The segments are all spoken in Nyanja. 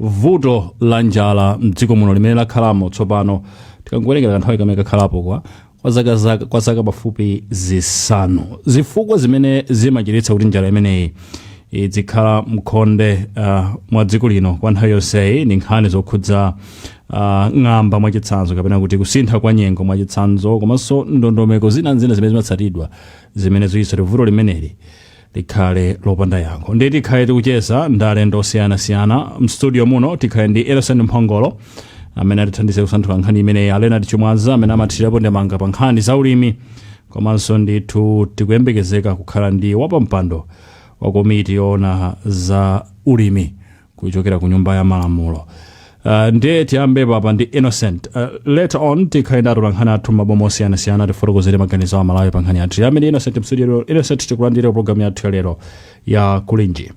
vuto la njala mdziko muno limene lakhalamo tsopano tikangowerengera kanthawi kamene kakhalapo kwa kwa zaka zaka- kwa zaka pafupi zisanu zifukwa zimene zimachititsa kuti njala imeneyi idzikhala mkhonde uh, mwa dziko lino kwa nthawi yonseyi ndi nkhani zokhudza uh, ng'amba mwachitsanzo kapena kuti kusintha kwa nyengo mwachitsanzo komanso ndondomeko zina ndi zina zimene zimatsatidwa zimene zikuchititsa kuti vuto limeneli likhale lopanda yankho ndiye tikhale tikucheza ndi alendo osiyanasiyana mstudio muno tikhale ndi innocent mphongolo amene atithandize kusanthula nkhani imeneyi a leonard chimwaza amene amathirirapo ndemanga pa nkhani za ulimi komanso ndithu tikuyembekezeka kukhala ndi wapampando wa komiti yoona za ulimi kuchokera ku nyumba ya malamulo Uh, ndiye tiyambe pompano ndi innocent uh, later on tikhale ndi atolankhani athu m'maboma osiyanasiyana atifotokozere maganizo a amalawi pa nkhani yathu tiyambe ndi innocent mstudio innocent tikulandire mu programu yathu ya lero ya kulinji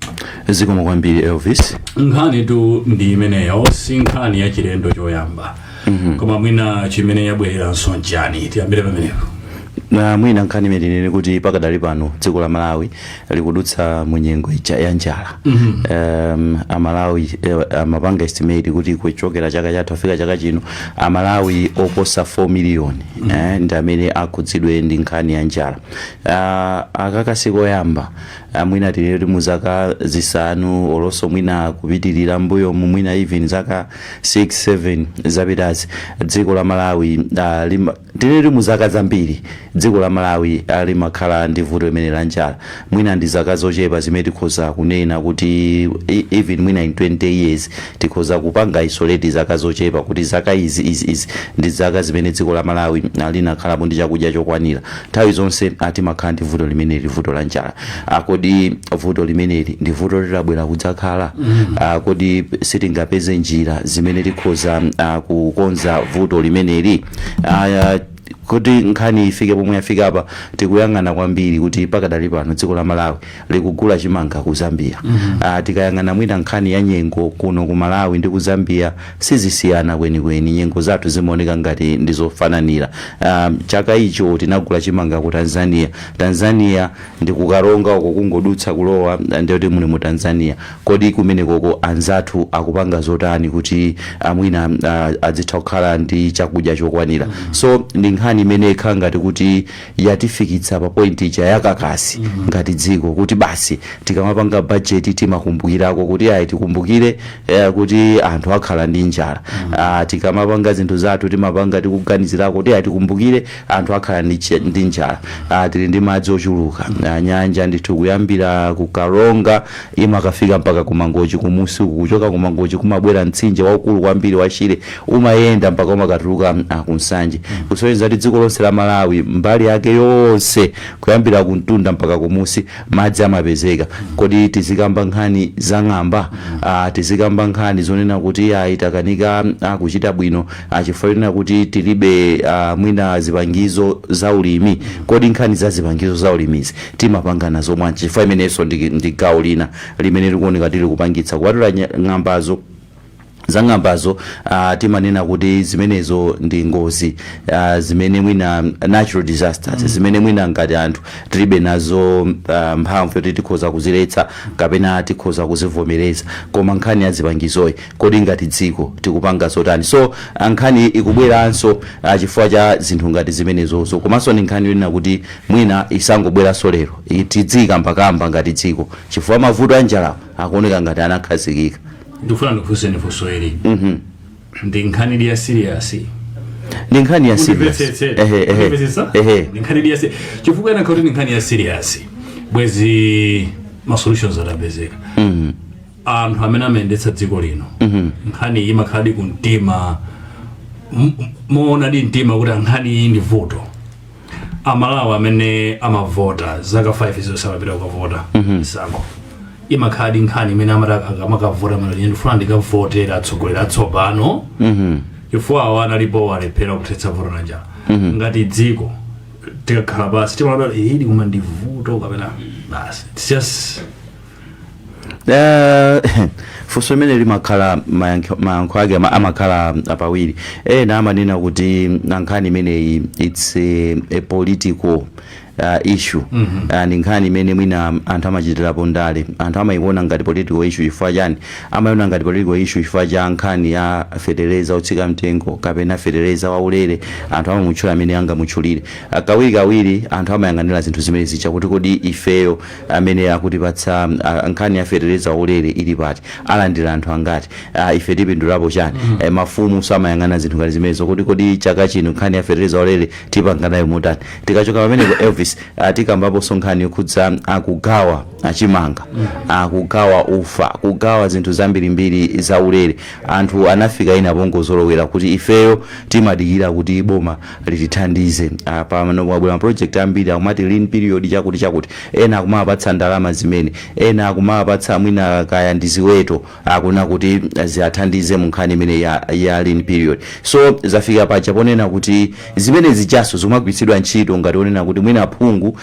zikomo kwambiri elvis nkhanitu ndi imeneyo si nkhani ya chilendo choyamba mm-hmm. koma mwina chimene yabwereranso nchani tiyambire pamenepo na mwina nkhani imene ili ndi kuti pakadali pano dziko la malawi likudutsa mu nyengo ija ya njala um, amalawi eh, amapanga estimate kuti kuchokera chaka chatha kufika chaka chino amalawi oposa 4 million eh, ndi amene akhudzidwe ndi nkhani ya njala uh, aka sikoyamba ah, mwina tinene kuti mu zaka zisanu olonso mwina kupitirira mbuyo mu mwina even zaka 6 7 zapitazi dziko la malawi uh, lima, Tinene kuti mu zaka zambiri dziko la Malawi limakhala ndi vuto limeneli la njala, mwina ndi zaka zochepa zimene tikhoza kunena kuti even mwina in 20 years tikhoza kupanga isolate zaka zochepa kuti zaka izi izi izi ndi zaka zimene dziko la Malawi linakhalapo ndi chakudya chokwanira. Nthawi zonse timakhala ndi vuto limeneli, vuto la njala. Kodi vuto limeneli ndi vuto loti labwera kudzakhala? Kodi sitingapeze njira zimene tikhoza kukonza vuto limeneli? aya kuti nkhani ifike pomwe yafika apa tikuyang'ana kwambiri kuti pakadali pano dziko la malawi likugula chimanga ku zambia Ah, tikayang'ana mwina nkhani ya nyengo kuno ku malawi ndi ku zambia sizisiyana kwenikweni nyengo zathu zimaoneka ngati ndizofananira Ah, chaka icho tinagula chimanga ku tanzania tanzania ndi ku karonga uko kungodutsa kulowa ndiye kuti muli mu Tanzania kodi kumenekoko anzathu akupanga zotani kuti ah, mwina ah, adzitha kukhala ndi chakudya chokwanira so ndi nkhani imene ikhala ngati kuti yatifikitsa pa point ija yakakasi ngati dziko kuti basi tikamapanga bajeti timakumbukirako kuti ayi tikumbukire eh, kuti anthu akhala ndi njala Ah, tikamapanga zinthu zathu timapanga tikuganizirako kuti ayi tikumbukire anthu akhala ndi chi- ndi njala Ah, tili ndi madzi ochuluka Ah, nyanja ndithu kuyambira ku karonga imakafika mpaka ku mangochi kumusi uku kuchoka ku mangochi kumabwera mtsinje waukulu kwambiri wa shire umayenda mpaka umakatuluka mm, ah, ku nsanje kusonyeza kuti dziko lonse la malawi mbali yake yonse kuyambira ku mtunda mpaka kumusi madzi amapezeka kodi tizikamba nkhani za ng'amba Ah, tizikamba nkhani zonena kuti ayi takanika ah, kuchita bwino a chifukwa chonena kuti tilibe a mwina zipangizo za ulimi kodi nkhani za zipangizo za ulimizi timapanga nazo bwanji chifukwa imeneyonso ndi, ndi gawo lina limene likuoneka kuti likupangitsa kupatula nya- ng'ambazo za ng'ambazo uh, timanena kuti zimenezo ndi ngozi uh, zimene mwina natural disasters mm. zimene mwina ngati anthu tilibe nazo uh, mphamvu yoti tikhoza kuziletsa kapena tikhoza kuzivomereza koma nkhani ya zipangizoyi Kodi ngati dziko tikupanga zotani? So nkhani ikubweranso chifukwa cha zinthu ngati zimenezozo. Komanso ndi nkhani yonena kuti mwina isangobweranso lero. Tidziyikambakamba ngati dziko chifukwa mavuto a njalawa akuoneka ngati anakhazikika. Ndikufuna ndikufunseni funso ili. Ndi nkhanidi ya serious? Ndi nkhani ya serious. Mundimvetsetse. Ehe, ehe. Mundimvetsetsa? Ehe. Ndi nkhanidi ya serious. Chifukwa chonena kuti ndi nkhani ya serious. Bwezi ma solutions atapezeka. anthu amene amayendetsa dziko lino nkhani iyi imakhaladi ku mtima m- m- moonadi mu mtima kuti nkhani iyi ndi vuto amalawi amene amavota zaka 5 zonse amapita kukavota misankho imakhaladi nkhani imene amati aka- amakavota amalankhula ndifuna ndikavotera atsogoleri atsopano chifukwa awo analipo alephera kuthetsa vuto la njala ngati dziko tikakhala pasi timaona kuti ili koma ndi vuto kapena basi It's just Eh, funso limene limakhala mayankho mayankho ake ama- amakhala apawiri ena amanena kuti nkhani imeneyi its a, a political uh, issue uh, ndi nkhani imene mwina anthu amachitirapo ndale anthu amayiona ngati political issue chifukwa chani amayiona ngati political issue chifukwa cha nkhani ya fetereza otsika mtengo kapena fetereza waulere anthu amamutchula mmene angamutchulire Ah, kawirikawiri anthu amayang'anira zinthu zimene zicha kuti kodi ifeyo amene akutipatsa ah, nkhani ya fetereza waulere ili pati alandira anthu angati ah, ife tipindulapo chani eh, mafumunso amayang'ana zinthu ngati zimenezo kuti kodi chaka chino nkhani ya fetereza waulere tipanga nayo motani tikachoka pamenepo elvis ah, tikambaponso nkhani yokhudza a kugawa a chimanga a kugawa ufa kugawa zinthu zambirimbiri za ulere anthu anafika pena pongozolowera kuti ifeyo timadikira kuti boma litithandize pamano abwera ma project ambiri akumati lean period chakuti chakuti ena akumapatsa ndalama zimene ena akumapatsa mwina kaya ndi ziweto akuna kuti ziathandize mu nkhani imene ya, ya lean period so zafika paja ponena kuti zimene zijanso zumagwiritsidwa ntchito ngati ponena kuti mwina phungu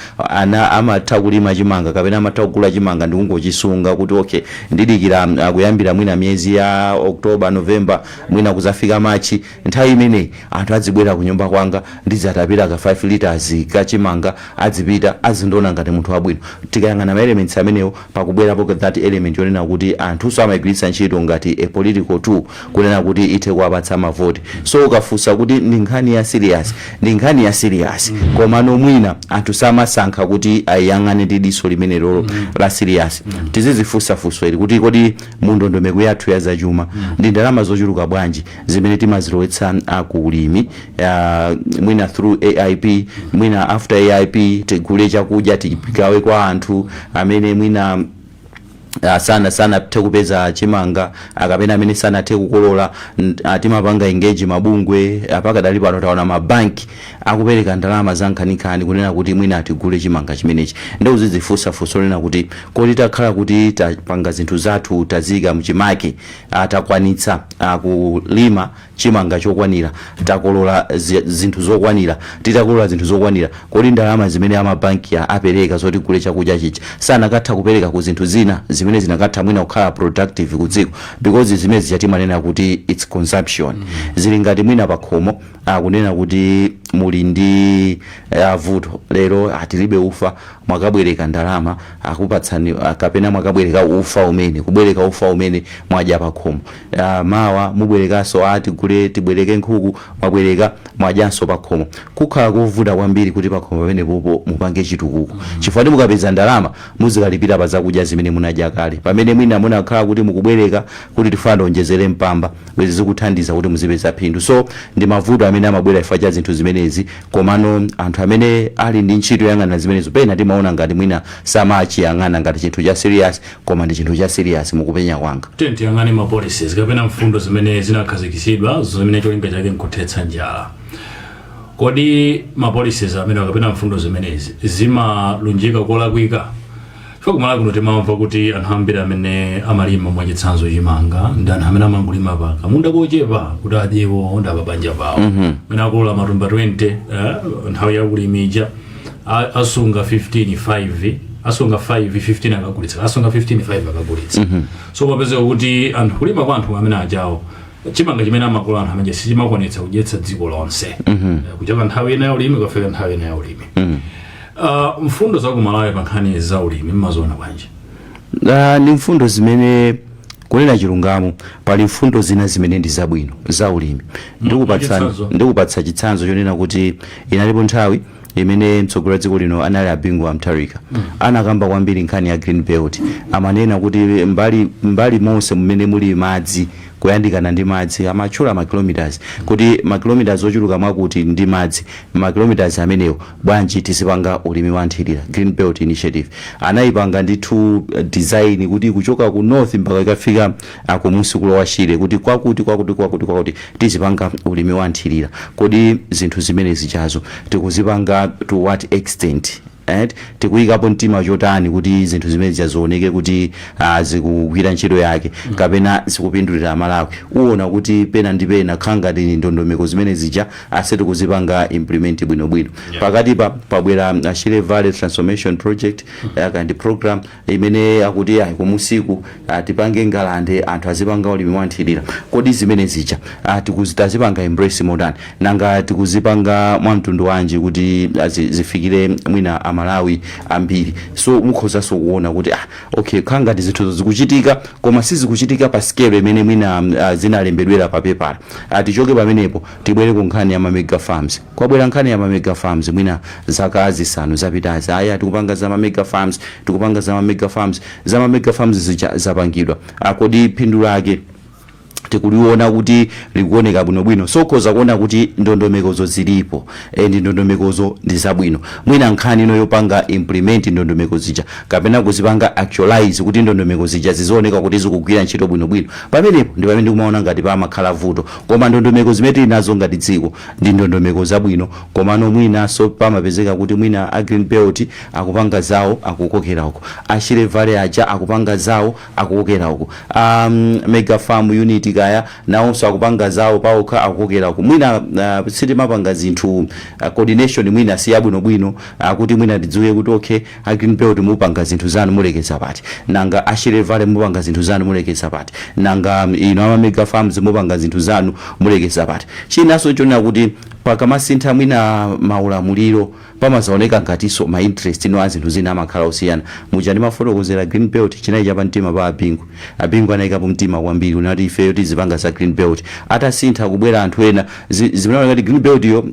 amatha kulima chimanga kapena amatha kugula chimanga ndi kungochisunga kuti okay ndidikira ah, kuyambira mwina miyezi ya october november mwina kuzafika machi Nthawi imeneyi anthu adzibwera kunyumba kwanga ndidzatapira ka 5 litres ka chimanga adzipita azindiona ngati munthu wabwino. Tikayang'ana ma elements amenewo pakubweranso that element yonena kuti anthunso amaigwiritsa ntchito ngati a political tool kunena kuti ithe kuwapatsa ma vote. So ukafunsa kuti ndi nkhani ya serious ndi nkhani ya serious komano mwina anthu samasankha kuti aiyang'ane ndi diso limenelolo la serious. Tizidzifunsa funso ili kuti kodi mu ndondomeko yathu ya zachuma ndi ndalama zochuluka bwanji zimene timazilowetsa ku ulimi ah, mwina through AIP mwina after AIP tigule chakudya tigawe kwa anthu amene mwina Ah, sana sanathe kupeza chimanga kapena amene sanathe kukolola n- ah, timapanga engage mabungwe pakadali pano taona mabanki akupereka ndalama za nkhaninkhani kunena kuti mwina tigule chimanga chimenechi ndi uzidzifunsa funso lonena kuti kodi takhala kuti tapanga zinthu zathu taziika mchimake takwanitsa ah, kulima chimanga chokwanira takolola zi- zinthu zokwanira titakolola zinthu zokwanira kodi ndalama zimene amabanki a- apereka zoti tigule chakudya chija sanakatha kupereka ku zinthu zina zimene zinakatha mwina kukhala productive ku dziko because zimene zija timanena kuti its consumption zili ngati mwina pakhomo kunena kuti muli ndi eh, vuto lero tilibe ufa mwakabwereka ndalama akupatsani kapena mwakabwereka ufa umene kubwereka ufa umene mwadya pakhomo mawa mubwerekanso a tigule tibwereke nkhuku mwabwereka mwadyanso pakhomo kumakhala kovuta kwambiri kuti pakhomo pamene popo mupange chitukuko chifukwa mukapeza ndalama muzikalipira pa zakudya zimene munadya kale pamene mwina munakakhala kuti mukubwereka kuti tifuna tionjezere mpamba bwezi zikuthandiza kuti muzipeza phindu so ndi mavuto amene amabwera chifukwa cha zinthu zimenezi Komano anthu amene ali ndi ntchito yoyang'ana zimenezo pena timaona ngati mwina samachiyang'ana ngati chinthu cha serious koma ndi chinthu cha serious mukupenya kwanga. Tiyeni tiyang'ane ma policies kapena mfundo zimene zinakhazikitsidwa zimene cholinga chake nkuthetsa njala. Kodi ma policies amenewa kapena mfundo zimenezi zimalunjika kolakwika? Chifukwa kumalawi kuno timamva kuti anthu ambiri amene amalima mwachitsanzo chimanga ndi anthu amene amangolima pa kamunda kochepa kuti adye iwo ndi apabanja pawo mwina akolola matumba 20 eh, nthawi yakulima ija a- asunga 15 5 asunga 5 15 akagulitsa asunga 15 5 akagulitsa so mapezeka kuti anthu kulima kwa anthu amene ajawo chimanga chimene amakolola anthu amene sichimakwanitsa kudyetsa dziko lonse Eh, kuchoka nthawi ina ya ulimi kufika nthawi ina ya ulimi Uh, mfundo za kumalawi pa nkhani za ulimi mmaziona bwanji Ah, ndi mfundo zimene kunena chilungamo pali mfundo zina zimene ndi zabwino za ulimi ndikupatsa mwachitsanzo? ndikupatsa chitsanzo chonena kuti inalipo nthawi imene mtsogoleri wa dziko lino anali a Bingu wa Mutharika anakamba kwambiri nkhani ya green belt amanena kuti mbali, mbali monse mmene muli madzi kuyandikana ndi madzi amatchula makilomitas kuti makilomitas ochuluka mwakuti ndi madzi makilomitas amenewo bwanji tizipanga ulimi wa nthilira, Green Belt Initiative, anayipanga ndithu design kuti kuchoka ku north mpaka ikafika kumusi kulowa Shire kuti kwakuti kwakuti kwakuti kwakuti tizipanga ulimi wa nthilira. Kodi zinthu zimene zijazo tikuzipanga to what extent eti, tikuyikapo mtima chotani kuti zinthu zimene zija ziwoneke kuti zikugwira ntchito yake kapena zikupindulira a Malawi. Uwona kuti pena ndi pena kukhangati ndondomeko zimene zija sitikuzipanga implement bwino bwino pakatipa pabwera uh, Shire Valley Transformation Project kaya ndi program imene akuti ayi kumusiku ah, tipange ngalande anthu azipanga ulimi wanthirira kodi zimene zija ah, tikuzi- tazipanga embrace motani nanga tikuzipanga mwa mtundu wanji kuti ah, zi- zifikire mwina amalawi ambiri so mukhozanso kuona kuti ah, okay khangati zinthuzo zikuchitika koma sizikuchitika pa scale imene mwina ah, zinalembedwera pa pepala Ah, tichoke pamenepo tibwere ku nkhani ya ma mega farms. Kwabwera nkhani ya ma mega farms mwina zaka zisanu zapitazi. Aya tikupanga za ma mega farms, tikupanga za ma mega farms, za ma mega farms zija zapangidwa. Ah, kodi phindu lake tikuliona kuti likuoneka bwinobwino so ukhoza kuona kuti ndondomekozo zilipo and ndondomekozo ndi zabwino mwina nkhani ndi yopanga implement ndondomeko zija kapena kuzipanga actualize kuti ndondomeko zija zizioneka kuti zikugwira ntchito bwinobwino Pamenepo ndi pamene ndikumaona ngati pamakhala vuto. Koma ndondomeko zimene tili nazo ngati dziko ndi ndondomeko zabwino komano mwinanso pamapezeka kuti mwina a Green Belt akupanga zawo akukokera uku, a Shire Valley aja akupanga zawo akukokera uku, a Mega Farm Unit kaya nawonso akupanga zawo paokha akukokera uku. Mwina uh, sitimapanga zinthu uh, coordination mwina si yabwinobwino uh, kuti mwina tidziwe kuti okay a green belt mupanga zinthu zanu mulekeza pati nanga a shire valley mupanga zinthu zanu mulekeza pati nanga um, ino ama mega farms mupanga zinthu zanu mulekeza pati chinanso chonena kuti pakamasintha mwina maulamuliro pamazaoneka ngatinso ma interest eni a zinthu zina amakhala osiyana muja ndimafotokozera green belt chinali chapa mtima pa a bingu a bingu anayikapo mtima kwambiri kunena kuti ifeyo tizipanga za green belt atasintha kubwera anthu ena zi- zimaoneka ngati green belt yo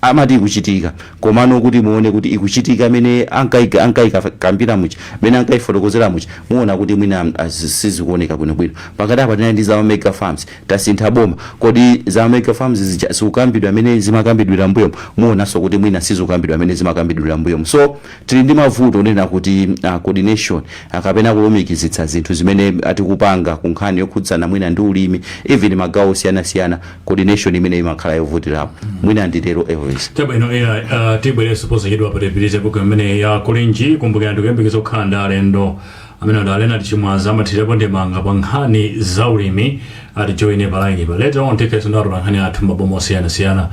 amati ikuchitika komano kuti muone kuti ikuchitika mene ankai ankaikambira muja mene ankaifotokozera muja muona kuti mwina ah, zi- sizikuoneka bwinobwino pakati apa tinali ndi za mega farms tasintha boma kodi za mega farms zija zikukambidwa mene zimakambidwira mbuyomo muonanso kuti mwina sizikukambidwa mene zimakambidwira mbuyomo so tili ndi mavuto onena kuti ah, coordination ah, kapena kulumikizitsa zinthu zimene tikupanga ku nkhani yokhudzana mwina ndi ulimi even magawo osiyanasiyana coordination imene imakhala yovutirapo mwina nditero elvis chabwino ai uh, tibwerenso posachedwa patipitirize programu imeneyi ya kulinji kumbukira ndikuyembekeza kukhala ndi alendo amene ndi a leonard chimwaza amathirirapo ndemanga pa nkhani za ulimi atijoine palainipa later on tikhalanso ndi atola nkhani athu m'maboma osiyanasiyana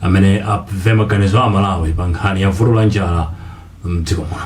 amene amve maganizo a amalawi pa nkhani ya vuto la njala mdziko muno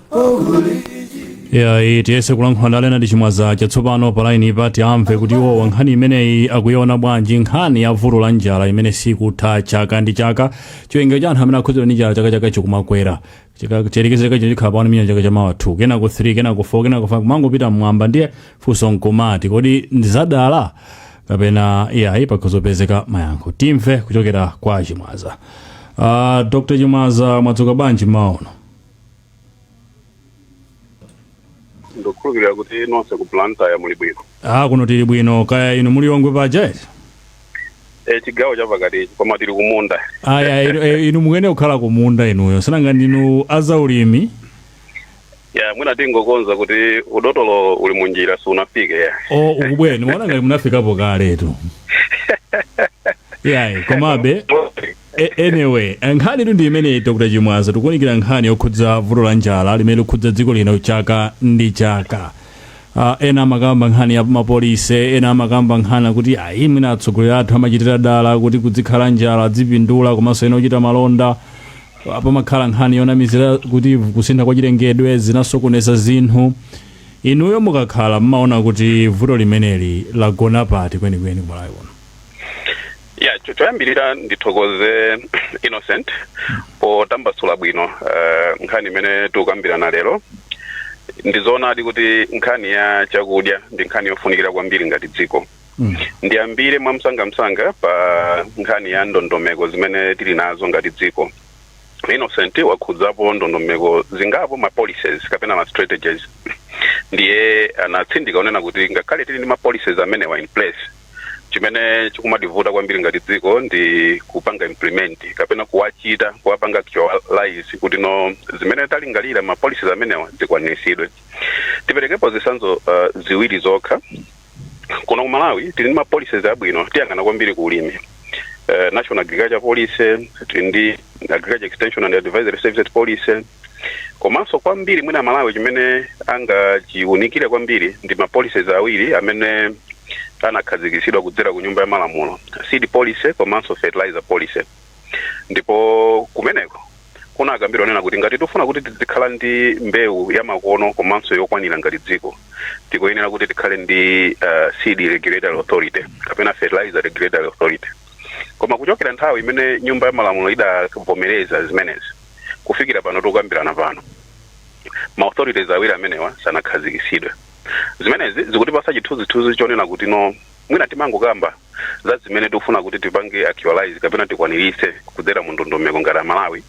ya iyi tiyese kulankhula ndi a leonard chimwaza tsopano pa lainipa tiwamve kuti iwowa nkhani imeneyi akuiona bwanji nkhani ya vuto la njala imene sikutha chaka ndi chaka chiwerengero cha anthu amene akhudzidwa ndi njala chaka chaka chikumakwera Chika- chiyerekeze chaka chino chikhala pano million chaka cha mawa 2 kenako 3 kenako 4 kenako 5 kumangopita mmwamba ndiye funso nkumati kodi ndi zadala kapena iyayi pakhoza kupezeka mayankho timve kuchokera kwa chimwaza uh, dr chimwaza mwadzuka bwanji mmawa uno ndikukhulupirira kuti nonse ku blantyre muli bwino ah kuno tili bwino kaya inu mu lilongwe paja eti e, chigawo chapakati koma tili kumunda aya inu, eh, inu mukuyenera kukhala kumunda inuyo sinanga ndinu azaulimi ya mwina tingokonza kuti udotolo uli munjira sunafike ya o timaona ngati munafikapo kaletu yayi komabe A- anyway eh, nkhanitu ndi imeneyi dr chimwaza tikuunikira nkhani yokhudza vuto la njala limene likukhudza dziko lino chaka ndi chaka Ah, ena amakamba nkhani ya yamapolicy ena amakamba nkhani kuti ayi mwina atsogoleri athu amachitira dala kuti kuzikhala njala azipindula komanso ena ochita malonda Ah, pamakhala nkhani yonamizira kuti kusintha kwa chilengedwe zinasokoneza zinthu inuyo mukakhala mmaona kuti vuto limeneli lagona pati kwenikweni kumalawi kuno ya cho- choyambirira ndithokoze innocent potambasula bwino eh, nkhani imene tikukambirana lero ndizoonadi kuti nkhani ya chakudya ndi nkhani yofunikira kwambiri ngati dziko Mm. ndiyambire mwamsangamsanga pa nkhani ya ndondomeko zimene tili nazo ngati dziko innocent wakhudzapo ndondomeko zingapo ma policies kapena ma strategies ndiye anatsindika kunena kuti ngakhale tili ndi ma policies amenewa in place chimene chikumativuta kwambiri ngati dziko ndi kupanga implement kapena kuwachita kuwapanga actualize kuti no zimene talingalira ma policies amenewa zikwaniritsidwe tiperekepo zitsanzo uh, ziwiri zokha kuno ku malawi tili ndi ma policies abwino tiyang'ana kwambiri ku ulimi uh, national agriculture policy tili ndi agriculture extension and advisory services policy komanso kwambiri mwina amalawi chimene angachiunikire kwambiri ndi ma policies awiri amene anakhazikitsidwa kudzera ku nyumba ya malamulo seed policy komanso fertilizer policy ndipo kumeneko kunakambidwa kunena kuti ngati tifuna kuti tizikhala ndi mbewu yamakono komanso yokwanira ngati dziko tikuyenera kuti tikhale ndi uh, seed regulatory authority kapena fertilizer regulatory authority koma kuchokera nthawi imene nyumba ya malamulo idavomereza zimenezi kufikira pano tikukambirana pano ma authorities awiri amenewa sanakhazikitsidwe zimenezi zikutipasa chithunzithunzi chonena kuti no mwina timangokamba za zimene tikufuna kuti tipange actualize kapena tikwaniritse kudzera mu ndondomeko ngati amalawi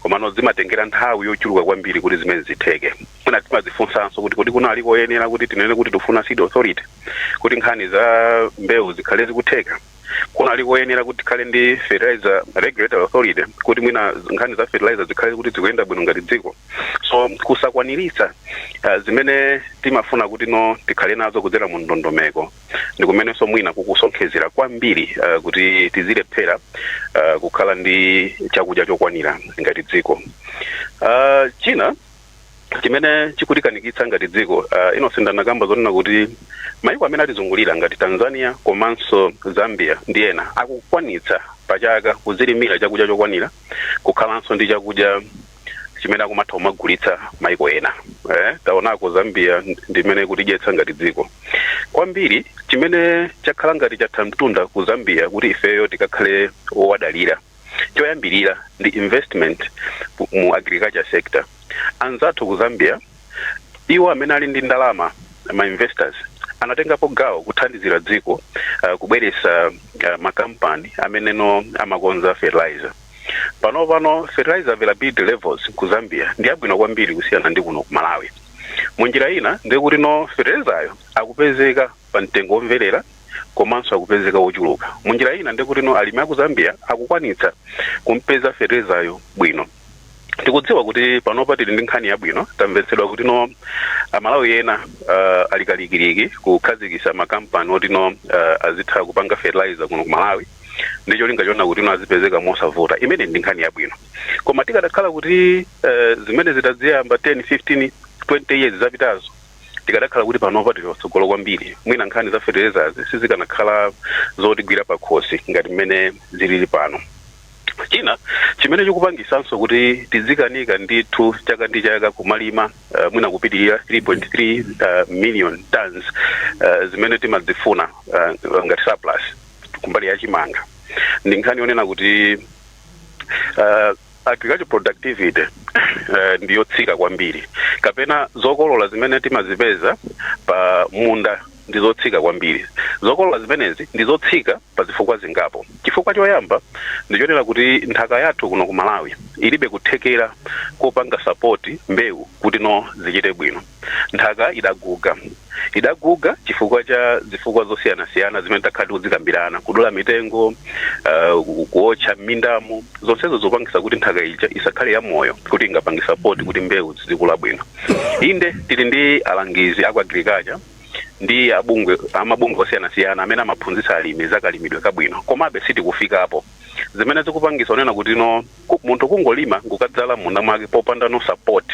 komano zimatengera nthawi yochuluka kwambiri kuti zimene zitheke mwina timadzifunsanso kuti kodi kunali koyenera kuti tinene kuti tifuna seed authority kuti nkhani za mbewu zikhale zikutheka kunali koyenera kuti tikhale ndi fertilizer regulatory authority kuti mwina nkhani za fertilizer zikhale kuti zikuyenda bwino ngati dziko so kusakwaniritsa uh, zimene timafuna kuti no tikhale nazo kudzera mu ndondomeko ndi kumenenso mwina kukusonkhezera kwambiri uh, kuti tizilephera uh, kukhala ndi chakudya chokwanira ngati dziko uh, china chimene chikutikanikitsa ngati dziko uh, innocent anakamba zonena kuti maiko amene atizungulira ngati tanzania komanso zambia ndi ena akukwanitsa pachaka kuzilimira chakudya chokwanira kukhalanso ndi chakudya chimene akumatha kumagulitsa maiko ena eh, taonako zambia ndimene ikutidyetsa ngati dziko kwambiri chimene chakhala ngati chatha mtunda ku zambia kuti ifeyo tikakhale owadalira choyambirira ndi investment ku- mu agriculture sector anzathu ku zambia iwo amene ali ndi ndalama ma investors anatengapo gawo kuthandizira dziko uh, kubweretsa uh, makampani amene no amakonza fertilizer pano pano fertilizer availability levels ku zambia ndi abwino kwambiri kusiyana ndi kuno ku malawi munjira ina ndikuti no fertilizayo akupezeka pa mtengo omvelera komanso akupezeka wochuluka munjira ina nde kuti no alimi aku zambia akukwanitsa kumpeza fetelezayo bwino tikudziwa kuti panopa tili ndi nkhani yabwino tamvetsedwa kuti no amalawi ena uh, ali kalikiliki kukhazikisa makampani otino uh, azitha kupanga fertilizer kuno ku malawi ndi cholinga chona kuti no azipezeka mosavuta imene ndi nkhani yabwino koma tikadakhala kuti uh, zimene tidaziyamba 10 15 20 years zapitazo Tikadakhala kuti panopa tili patsogolo kwambiri, mwina nkhani za fetelezazi sizikanakhala zotigwira pakhosi ngati mmene zilili pano. China chimene chikupangitsanso kuti tidzikanika ndithu chaka ndi chaka kumalima uh, mwina kupitirira 3.3 uh, million tons uh, zimene timadzifuna uh, ngati surplus kumbali ya chimanga ndi nkhani yonena kuti uh, Agriculture productivity eh, ndi yotsika kwambiri kapena zokolola zimene timazipeza pa munda ndi zotsika kwambiri zokolola zimenezi ndi zotsika pa zifukwa zingapo chifukwa choyamba ndichonena kuti nthaka yathu kuno ku malawi ilibe kuthekera kopanga sapoti mbewu kuti no zichite bwino Nthaka idaguga. Idaguga chifukwa cha zifukwa zosiyanasiyana zimene takhala tikuzikambirana, kudula mitengo, uh, kuotcha m'mindamu, zonsezo zopangisa kuti nthaka ija isakhale ya moyo kuti ingapange sapoti kuti mbewu zizikula bwino. Inde tili ndi alangizi aku agriculture ndi abungwe amabungwe osiyanasiyana amene amaphunzitsa alimi za kalimidwe kabwino, komabe sitikufikapo. zimene zikupangisa kunena kuti no ku- munthu kungolima nkukadzala m'munda mwake popandano support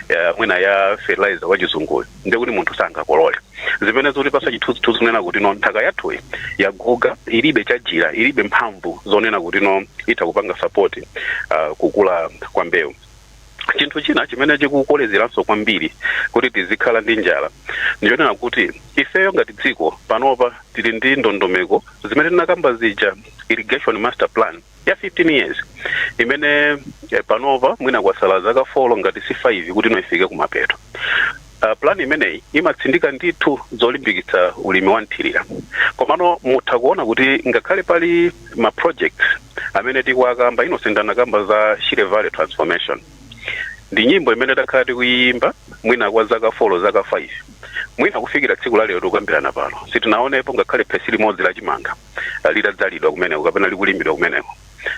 eh, mwina ya fertilizer wachizunguyo ndiye kuti munthu sangakolole zimene zikutipasa chithunzithunzi kunena kuti no nthaka yathuyi yaguga ilibe chajira ilibe mphamvu zonena kuti no itha kupanga support uh, kukula kwa mbewu Chinthu china chimene chikukolezeranso kwambiri kuti tizikhala ndi njala ndichonena kuti ifeyo ngati dziko panopa tili ndi ndondomeko zimene tinakamba zija irrigation master plan ya 15 years imene eh, panopa mwina kwasala zaka 4 ngati si 5 kuti no ifike kumapeto Uh, plan imeneyi imatsindika ndithu zolimbikitsa ulimi wa mthirira komano mutha kuona kuti ngakhale pali ma projects amene tikuwakamba inu nonse ndinakamba za shire valley transformation ndi nyimbo imene takhala tikuyimba mwina kwa zaka 4 zaka 5 mwina kufikira tsiku la lero tikukambirana pano sitinaonepo ngakhale phesi limodzi la chimanga uh, litadzalidwa kumeneko kapena likulimidwa kumeneko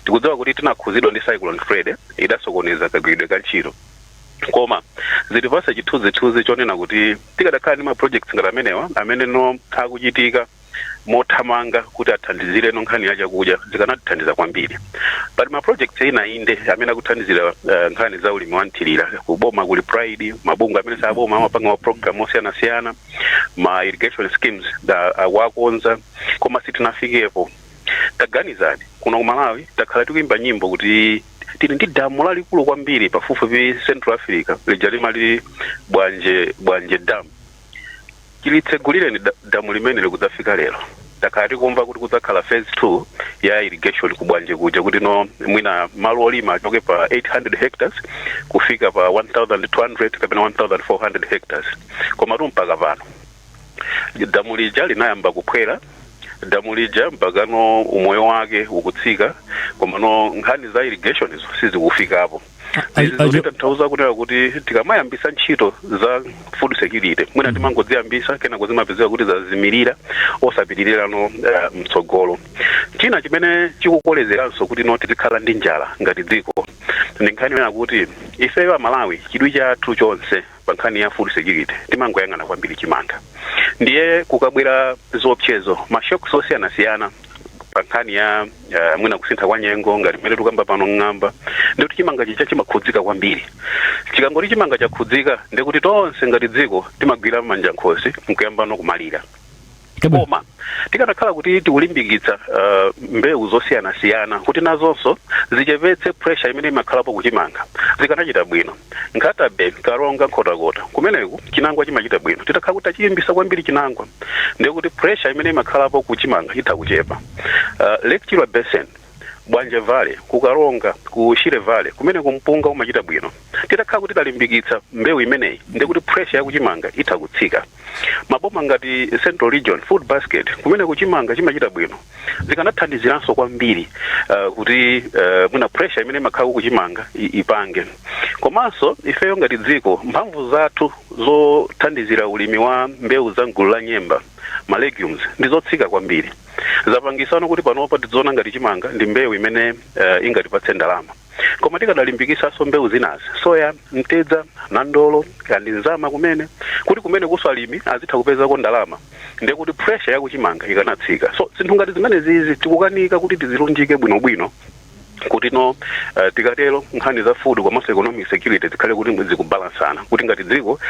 tikudziwa kuti tinakhuzidwa ndi cyclone freddy idasokoneza kagwiridwe ka ntchito koma zitipasa chithunzithunzi chonena kuti tikadakhala ndi ma projects ngati amenewa amene no akuchitika mothamanga kuti athandizire no nkhani ya chakudya zikanatithandiza kwambiri pali ma projects ena inde amene akuthandizira uh, nkhani za ulimi wa mthirira kuboma kuli pride mabungwe amene saboma amapanga ma program osiyanasiyana ma irrigation schemes akuwakonza koma sitinafikepo taganizani kuno ku malawi takhala tikuyimba nyimbo kuti tili ndi damu lalikulu kwambiri pafupifupi central africa lija limali bwanje bwanje dam chilitsegulireni damu limene lija kudzafika lero takhala tikumva kuti kudzakhala phase 2 ya irrigation ku bwanje kuja kuti no mwina malo olima achoke pa 800 hectares kufika pa 1200 kapena 1400 hectares komatu mpaka pano damu lija linayamba kuphwera damu lija mpakano umoyo wake ukutsika komano nkhani za irrigation izo sizikufikapo kutanthauza kunena kuti tikamayambisa ntchito za food security mwina timangoziyambisa kenako zimapezeka kuti zazimirira osapitirirano eh, mtsogolo china chimene chikukolezeranso kuti no tizikhala ndi njala ngati dziko ndi nkhani yonena kuti ifeyo amalawi chidwi chathu chonse Pa nkhani ya food security timangoyang'ana kwambiri chimanga ndiye kukabwera zoopsezo ma shocks osiyanasiyana pa nkhani ya uh, mwina kusintha kwa nyengo ngati mmene tukamba pano ng'amba ndikuti chimanga chija chimakhudzika kwambiri chikangoti chimanga chakhudzika ndikuti tonse ngati dziko timagwira mmanja nkhosi nkuyamba no kumalira koma tikanakhala kuti tikulimbikitsa uh, mbewu zosiyanasiyana kuti nazonso zichepetse pressure imene imakhalapo kuchimanga zikanachita bwino nkhata bay karonga nkhotakota kumeneko chinangwa chimachita bwino titakhala kuti tachilimbisa kwambiri chinangwa ndi kuti pressure imene imakhalapo kuchimanga itha kuchepa uh, lake chilwa basin Bwanje Valley, ku Karonga, ku Shire Valley kumeneko mpunga umachita bwino. Titakhala kuti talimbikitsa mbewu imeneyi ndi kuti pressure ya kuchimanga itha kutsika. Maboma ngati Central Region Food Basket kumeneko chimanga chimachita bwino. Zikanathandiziranso kwambiri uh, kuti uh, mwina pressure imene imakhala kuchimanga ipange. Komanso ifeyo ngati dziko mphamvu zathu zothandizira ulimi wa mbewu za mgulu la nyemba ma legumes ndi zotsika kwambiri. zapangisano kuti panopa tiziona ngati chimanga ndi mbewu imene uh, ingatipatse ndalama koma tikadalimbikisanso mbewu zinazi soya mtedza nandolo kaya ndi nzama kumeneku kuti kumenekunso alimi azitha kupezako ndalama ndi kuti pressure yakuchimanga ikanatsika so zinthu ngati zimenezizi tikukanika kuti tizilunjike bwinobwino kuti no uh, tikatero nkhani za food komanso economic security zikhale kuti zikubalansana kuti ngati dziko uh,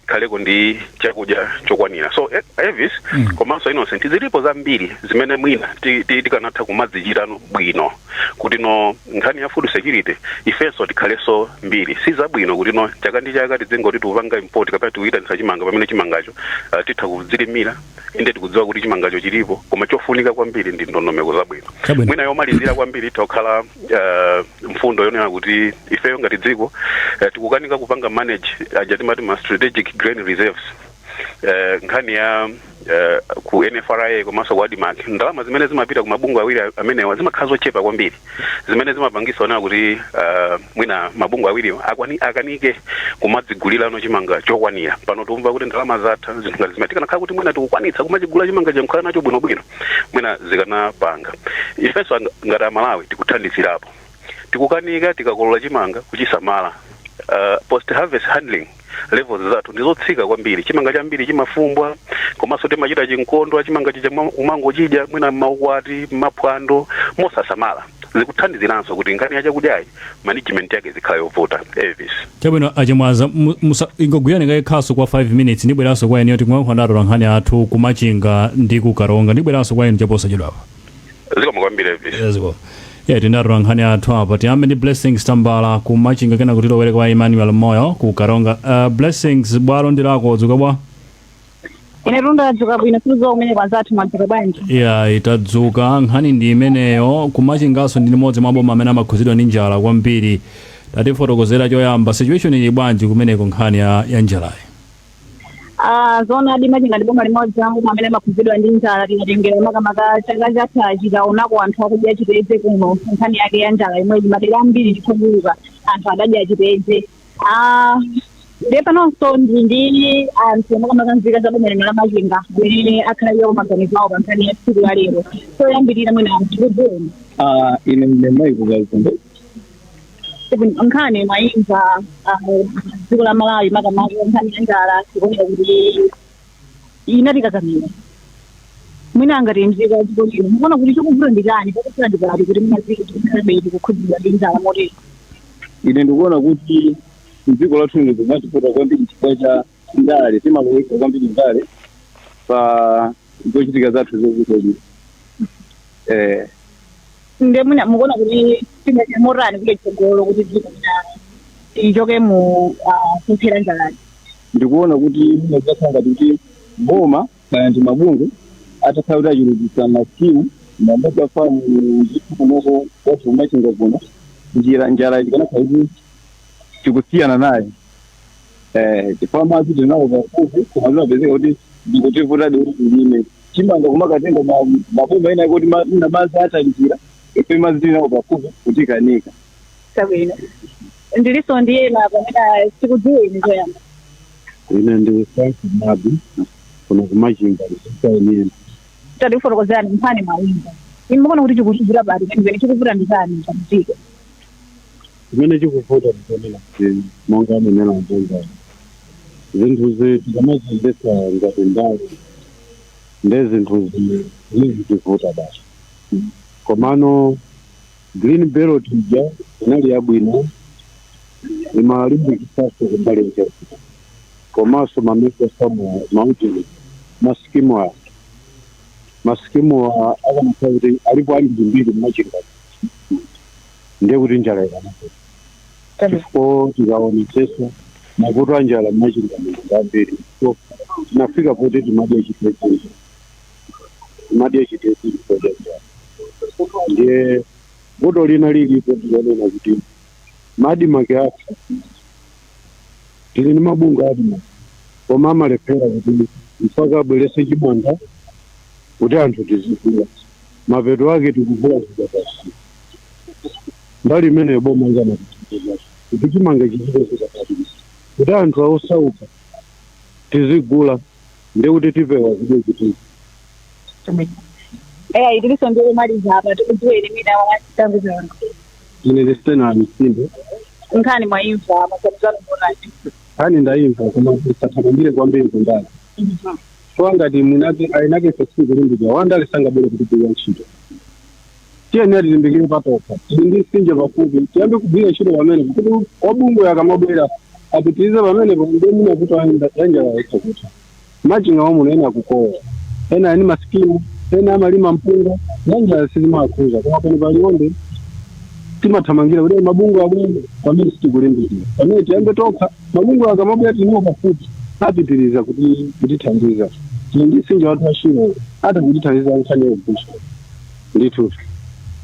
tikhaleko ndi chakudya chokwanira so eh, elvis mm. komanso innocent zilipo zambiri zimene mwina ti- ti- tikanatha kumazichita no bwino kuti no nkhani ya food insecurity ifenso tikhalenso mbiri si zabwino kuti no chaka ndi chaka tidzingoti tikupanga import kapena tikuyitanisa chimanga pamene chimangacho uh, titha kudzilimira inde tikudziwa kuti chimangacho chilipo koma chofunika kwambiri ndi ndondomeko zabwino. mwina yomalizira kwambiri itha kukhala eh, mfundo yonena kuti ifeyo ngati dziko eh, tikukanika kupanga manage aja timati ma strategic grain reserves eh, nkhani ya eh, ku nfra komanso ku admarc ndalama zimene zimapita ku mabungwe awiri amenewa zimakhala zochepa kwambiri zimene zimapangisa zonena kuti uh, mwina mabungwe awiriwo akwani- akanike kumadzigulirano chimanga chokwanira pano tikumva kuti ndalama zatha zinthu ngati zimenezo tikanakhala kuti mwina tikukwanitsa kumachigula chimanga nkukhala nacho bwinobwino mwina zikanapanga ifenso anga- ngati amalawi tikuthandizirapo tikukanika tikakolola chimanga kuchisamala uh, post harvest handling levels zathu ndizotsika kwambiri chimanga chambiri chimafumbwa komanso timachita chinkondwa chimanga chija mwa- kumangochidya mwina mmaukwati mmaphwando mosasamala zikuthandiziranso kuti nkhani ya chakudyayi management yake izikhala yovuta elvis chabwino achimwaza mu- musa- ingogwirani kaye khasu kwa 5 minutes ndibweranso kwa inuyo tikuyankhula ndi atolankhani athu kumachinga ndi kukaronga ndibweranso kwa inu chaposachedwapa zikomo kwambiri Elvis. Ezgo. Yeah, tili ndi atolankhani athu apa tiyambe ndi blessings tambala ku machinga kenaka tilowere kwa emmanuel moyo ku karonga uh, blessings bwalo ndi lako dzuka bwa ine ndadzuka bwino sindidziwa kumeneko anzathu mwadzuka bwanji yeah, tadzuka nkhani ndi imeneyo kumachinganso ndi limodzi mwa maboma amene amakhuzidwa ndi njala kwambiri tatifotokozere choyamba situation ili bwanji kumeneko nkhani ya, ya njalayi Ah, zoonadi machinga ndi boma limodzi mwa maboma amene amakhudzidwa ndi njala tikatengera makamaka chaka chatha tinaonako anthu akudya chitedze kuno nkhani yake ya njala yomweyi madera ambiri tikukumbuka anthu adadya chitedze Ah, ndiye panonso ndili ndi anthu makamaka nzika za boma lino la machinga amene apereke nawo maganizo awo pa nkhani ya tsiku la lero choyambirira mwina anthu akudziweni Ah, ine ndi mayi kukazi nkhani mwayimva dziko la malawi makamaka nkhani ya njala ikuoneka kuti inatikakamira, mwina ngati mzika ya dziko lino mukuona kuti chikuvuta ndi chani pakufuna ndikati kuti tizikhalabe tikukhudzidwa ndi njala motero ine ndikuona kuti mdziko lathu lino zimativuta kwambiri chifukwa cha ndale timalowesa kwambiri ndale pa zochitika zathu zokutolia eh nde mwina mukuona kuti tingachite motani kutsogolo kuti dziko lino lichoke mu ah, kuphera njalayi ndikuona kuti zinakakhala ngati kuti boma kana ndi mabungwe atakhala kuti achulukisa masikimu mamega famu ndithu kunoko kwathu kumachinga kuno njira njala ikanakhala kuti tikusiyana naye eh chifukwa madzi tinawo pafupi koma zimapezeka kuti zikutivutadi kuti tilime chimanga kumakatenga ma- maboma ena kuti ma- mwina madzi atalikira ife madzi tili nawo pafupi kutikanika Chabwino. Ndiliso ndi ena pamene tikudziweni poyamba. ine ndi frank mabi kuno kumachinga ndisainiyeni Tatifotokozerani nkhani mwaimva. Inu mukuona kuti chikuchigira bati chimene chikuvuta ndi chani mdziko. Chimene chikuvuta ndi chonena kuti monga anenera anzangawo, zinthuzi tikamaziyendetsa ngati ndale ndiye zinthuzi zizitivuta basi. Komano green belt ija inali yabwino, imalimbikitsanso kumbali ya chakudya komanso ma mega farm awa, maujeni, ma scheme awa, ma scheme awa akanakhala kuti alipo ambirimbiri m'Machinga muno, ndiye kuti njala ikanakula Chabwino. chifukwa tikaonetsetsa mavuto a njala mmachinga muno ambiri so tinafika poti timadya chitedze timadya chitedze chifukwa cha njala ndiye vuto lina lilipo tikanena kuti ma ADMARC athu tili ndi mabungwe a ADMARC koma amalephera kuti mpaka abwerese chimanga kuti anthu tizigula mapeto ake tikuvutika basi mbali imeneyo boma likanatithandiza kuti chimanga chizipezeka pabwino kuti anthu osauka tizigula ndiye kuti tipewa zodya chitedze eya tilinso ndi omaliza apa tikudziweni mina wachitambi zanu ine ndi sitena misinde nkhani mwaimva maganizo anu ngotani nkhani ndayimva koma tisathamangire kwambiri kundale so ngati mwinake eniake sitikulimbikira wandale sangabwere kutigwirira ntchito tiyeni tilimbikire patokha tili ndi msinje pafupi tiyambe kugwira ntchito pamenepo kuti amabungwe akamabwera apitirize pamenepo ndiye mwina kuti ayenda yanjala yekha kuti machinga wamuno ena akukowa ena ali ndi masikimu ena amalima mpunga yanjala sizimakhudza koma pano pa Liwonde timathamangira kuti mabungwe abwere pamene sitikulimbikira pamene tiyambe tokha mabungwe akamabwera tiliwo pafupi apitiriza kuti kutithandiza tili ndi msinje wathu wa Shire ati kutithandiza nkhani yogusha ndithudi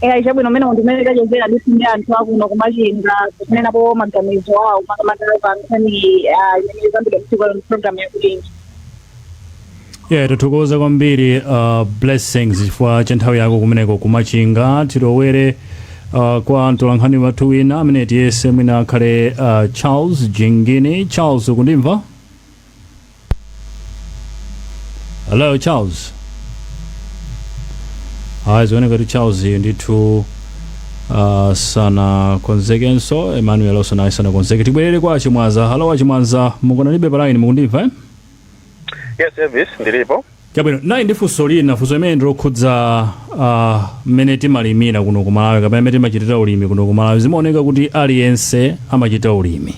eya chabwino umene ndithu umene tachezera ndithu ndi anthu akuno kumachinga kunenapo maganizo awo makamaka pa nkhani ah, imene ikambidwa tsiku la lero programu ya Kulinji yeah tithokoze kwambiri uh, blessings chifukwa cha nthawi yako kumeneko kumachinga tilowere uh, kwa mtolankhani wathu wina amene tiyese mwina akhale uh, charles jingini charles ukundimva hello charles ayi zioneka kuti charles ndithu uh, sanakonzekenso emmanuel yonso naye sanakonzeke tibwerere kwa achimwaza halo achimwaza mukanalipo palaini mukundimva eh? yes elvis ndilipo chabwino nayi ndi funso lina funso limene ndilokhudza uh, mmene timalimira kuno ku malawi kapena mmene timachitira ulimi kuno ku malawi zimaoneka kuti aliyense amachita ulimi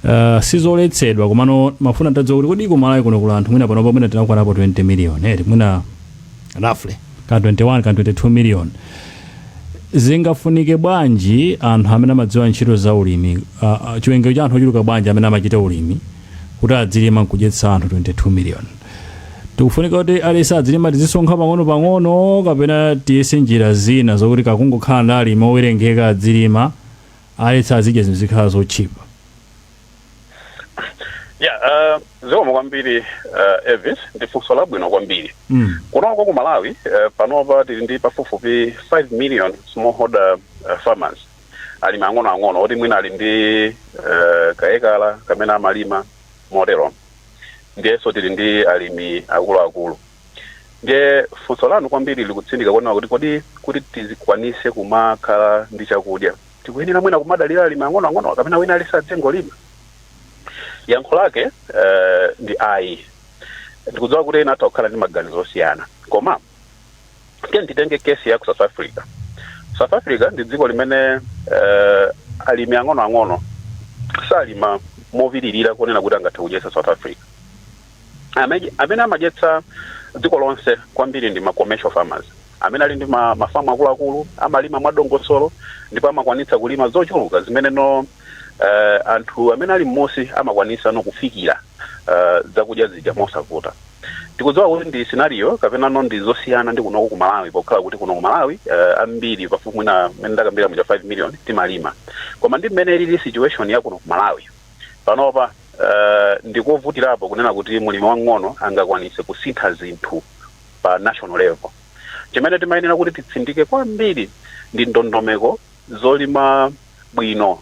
Uh, sizoletsedwa komano mafuna ntadziwa kuti kodi kumalawi kuno kuli anthu mwina panopa mwina tinakwanapo 20 million eti mwina roughly ka 21 ka 22 million zingafunike bwanji anthu amene amadziwa ntchito za ulimi uh, uh, chiwerengero cha anthu ochuluka bwanji amene amachita ulimi kuti adzilima nkudyetsa anthu 22 million tikufunika kuti aliyense adzilima tizisonkha pang'ono pang'ono kapena tiyese njira zina zokuti kakungokhala ndi alimi owerengeka adzilima alesi azidya zinthu zikhale zotchipa ya uh, zikomo kwambiri uh, elvis ndi funso labwino kwambiri mm. kunoko ku malawi uh, panopa tili ndi pafupifupi 5 million smallholder uh, farmers alimi ang'onoang'ono oti mwina ali ndi uh, kaekala kamene amalima motero ndiyenso tili ndi alimi akuluakulu Ndiye funso lanu kwambiri likutsindika kuona kuti kodi kuti tizikwanise kumakhala ndi chakudya tikuyenera mwina kumadalira alimi ang'onoang'ono kapena wina aliyense adzingolima yankho lake eh, ndi ayi ndikudziwa kuti ena atha kukhala ndi maganizo osiyana koma tiyeni titenge case ya ku south africa south africa ndi dziko limene eh, alimi ang'onoang'ono salima mopitirira kunena kuti angathe kudyetsa south africa amene, amene amadyetsa dziko lonse kwambiri ndi ma commercial farmers amene ali ndi ma, mafamu akuluakulu amalima mwadongosolo ndipo amakwanitsa kulima zochuluka zimene no uh, anthu amene ali mmudzi amakwanisa no kufikira uh, zakudya zija mosavuta ndikudziwa kuti ndi scenario kapena no ndi zosiyana ndi kunoko ku malawi pokhala kuti kuno ku malawi uh, ambiri pafupi mwina mmene ndakambira muja 5 million timalima koma ndi mmene ilili situation ya kuno ku malawi Panopa, ndi kovutirapo kunena kuti mlimi wang'ono angakwanitse kusintha zinthu pa national level. Chimene timayenera kuti titsindike kwambiri ndi ndondomeko zolima bwino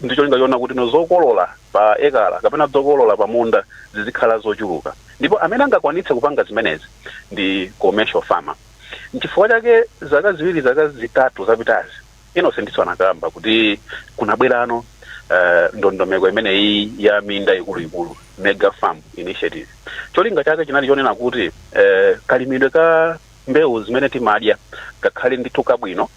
ndi cholinga chonena kuti zokolola pa ekala kapena zokolola pa munda zizikhala zochuluka. Ndipo amene angakwanitse kupanga zimenezi ndi commercial farmer. N'chifukwa chake zaka ziwiri, zaka zitatu zapitazi, Innocentnso anakamba kuti kunabwerano eh, ndondomeko imeneyi ya minda ikuluikulu mega farm initiative cholinga chake chinali chonena kuti eh, kalimidwe ka mbewu zimene timadya kakhale ndithu kabwino